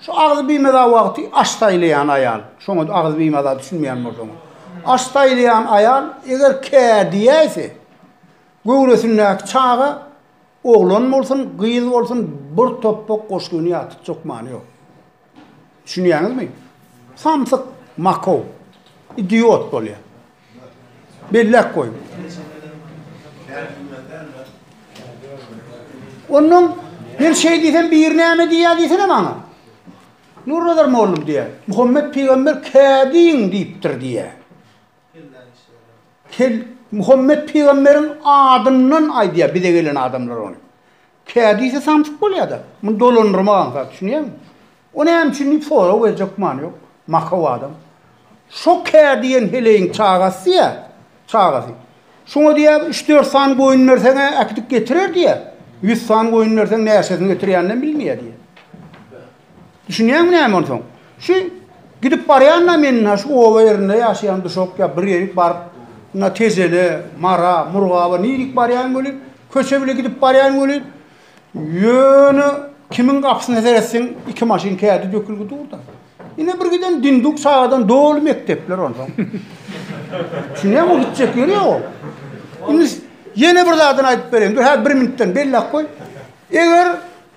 Şu agzy bimaza wagty aş saýlaýan aýal, şoňa agzy bimaza düşünmeýän bolsaňyz. Aş saýlaýan aýal eger kä diýäýse, göwresindäki çaga oglan bolsun, gyz bolsun bir topbak goşgyny ýatytjak many ýok. Düşünýäňizmi? Samsyk, makow, idiot bolýar. Belläp goýuň. Onnoň Men şeý diýsem biri näme diýýär diýsene maňa. Nurnazar mollum diýýär. Muhammet pygamber kädiň diýipdir diýýär. Kel Muhammet pygamberiň adyndan aýdýar bize gelen adamlar ony. Kädise samsyk bolýada, muny dolandyrmak aňsat, düşünýäňmi? O näme üçin diýip sorag berjek many ýok. Makaw adam. Şo Kä diýen heleýiň çagasy-ýa, çagasy. Şoňa diýýä, üç-dört sany goýun berseň-ä äkidip getirer diýýä. Ýüz sany goýun berseň näçesini getirýäninem bilmeýä diýýä. Düşünýäňmi näme onsoň? Şu gidip barýan-da men ha şu oba ýerinde ýaşaýan duşak ýa bir ýerik baryp, na Tejele, Mara, Murgaba nirik barýan welin, köçe bile gidip barýan welin, ýöne kimiň gapysyna seretseň iki maşyn kädi dökülgi dur-da. Ine bir giden dinduk çagadan doly mekdepler onsoň. Düşünýäňmi gitjek ýeri ýok ol. Indi ýene bir zadyny aýdyp bereýin. Dur häzir bir minutdan belläp goý. Eger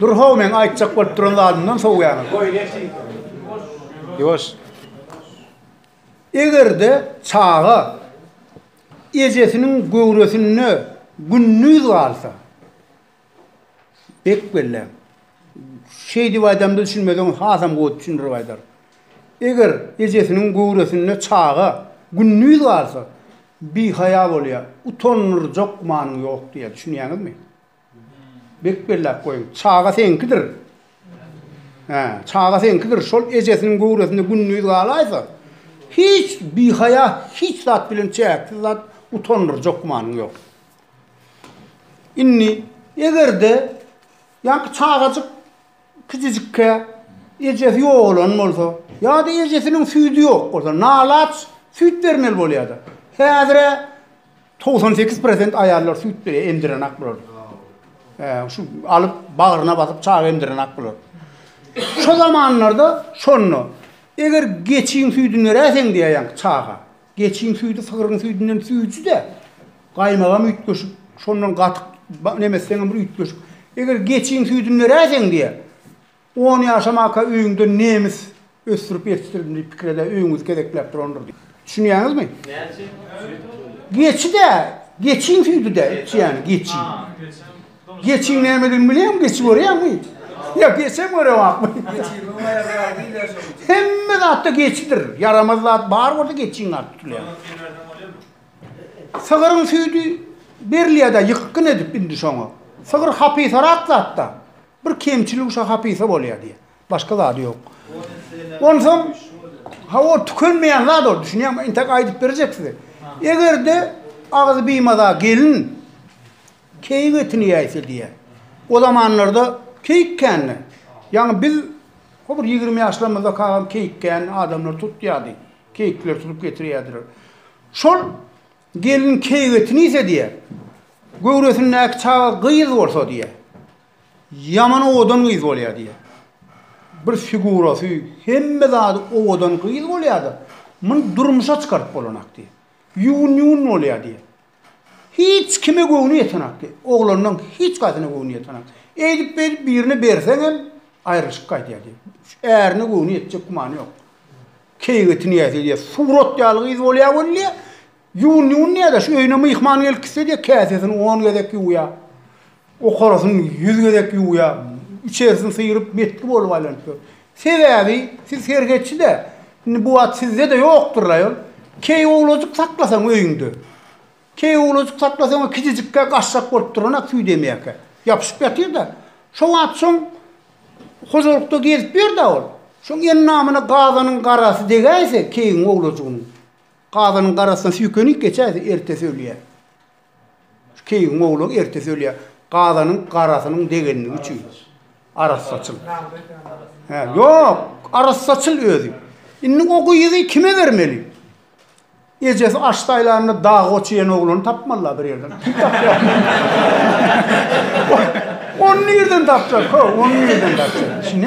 Dur how men aýtjak bolup duran zadymdan sowýaňyz. Ýuwaş. Egerde çaga ejesiniň göwresinde gündiz galsa, Bek belle. Şeýdip aýdamda düşünmeseňiz hasam gowy düşündirip aýdar. Eger ejesiniň göwresinde çaga gündiz galsa, bihaýa bolýar, utandyrjak gümanyň ýok diýýär, düşünýäňizmi? Bek belläp goýuň. Çaga seňkidir. Hä, çaga seňkidir. Şol ejesiniň göwresinde gündiz galaýsa, hiç bihaýa hiç zat bilen çäksiz zat utandyrjak gümanyň ýok. Indi eger-de ýaňky çagajyk kiçijikkä ejesi ýogalan bolsa, ýa-da ejesiniň süýdi ýok bolsa, nalaç süýt bermeli bolýar-da. Häzir-ä 98 prosent aýallar süýt berýär, emdiren ak bular. Hä, şu alyp bagryna basyp çaga emdiren ak bular. Şu zamanlarda şonda eger geçiň süýdüni beräseň diýýär ýaňky çaga. Geçiň süýdi sygryň süýdünden süýjüde gaýmagam üýtgeşik şondan gatyk nemesseňem bir üýtgeşik eger geçiň süýdini beräýseň diýe on ýaşamaka öýüňde nemis ösdürip ýetişdirdim diýip pikir ede öýüňizi gezekläp durandyr diýip düşünýäňizmi geçi dä geçiň süýdi dä içýäni geçi. Geçiň nämedigini bilýäňmi? Geçi görýäňmi? Ýa geçem görewakmy? Geçiň oňa ýarar diýler şonuň üçin. Hemme zatda geçidir. Ýaramaz zat bar bolsa geçiň adyny tutulýar. Sygyryň süýdüni berseň bolýarmy? Sygyryň süýdi berilýär-dä ýykgyn edip indi şoňa. Sygyr hapisarak zat-da. Bir kemçiligi şo hapisa bolýar diýýär. Başga zady ýok. Onsoň ha ol tükenmeýän zat ol düşünýäňmi? Entek aýdyp berjek size. Eger-de agzy bimaza gelin Keýik etini ýäýse diýýär. O zamanlarda keýik kändi. Ýaňy biz ho bir ýigrimi ýaşlarymyzda kakam keýik kändi, adamlar tutýardy. Keýikler tutup getirýärdiler. Şol gelin keýik etini iýse diýýär. Göwresindäki çaga gyz bolsa diýýär. Ýaman owadan gyz bolýar diýýär. Bir figurasy, hemme zady owadan gyz bolýar-da, muny durmuşa çykaryp bolanak diýýär. Ýuwun-ýuwun bolýar diýýär. Hiç kime göwni ýetenokdy. Oglanynyň hiç kasyna göwni ýetenokdy. Eýdip-beýdip birine berseňem, aýrylyşyp gaýdýardy. Ärine göwni ýetjek gümany ýok. Keýigeti nädip edýär? Surat ýaly gyz bolýar weli, ýuwun-ýuwun nädäş, öýüne myhman gelip gitse-de, käsesini on gezek ýuwýar. Okarasyn ýüz gezek ýuwýa, içerisini syryp metgi bolup aýlanyp dur. Sebäbi siz serhetçi-dä. Indi bu at sizde-de ýokdur-laý ol. Keý owlajyk saklasaň öýüňde. Keý owlajyk saklasaň-a kijijikkä gaşşak bolup duran at süýdemeýäkä. Ýapyşyp ýatyr-da. Şo wagt şoň hojalykda gezip ýör-dä ol. Şoň endamyna gazanyň garasy degäýse keýiň owlajygynyň, gazanyň garasyna süýkenip geçäýse ertesi ölýär. Keýigiň owlagy ertesi ölýär. Gazanyň garasynyň degenligi üçin. Arassaçyl. Hä, ýok, arassaçyl özi. Indi o gyzy kime bermeli? Ejesi aç saýlanda dagy goç iýen oglany tapmaly-la bir ýerden. Kim tapýar? Ony nirden tapjak, ho, ony nirden tapjak? Şine.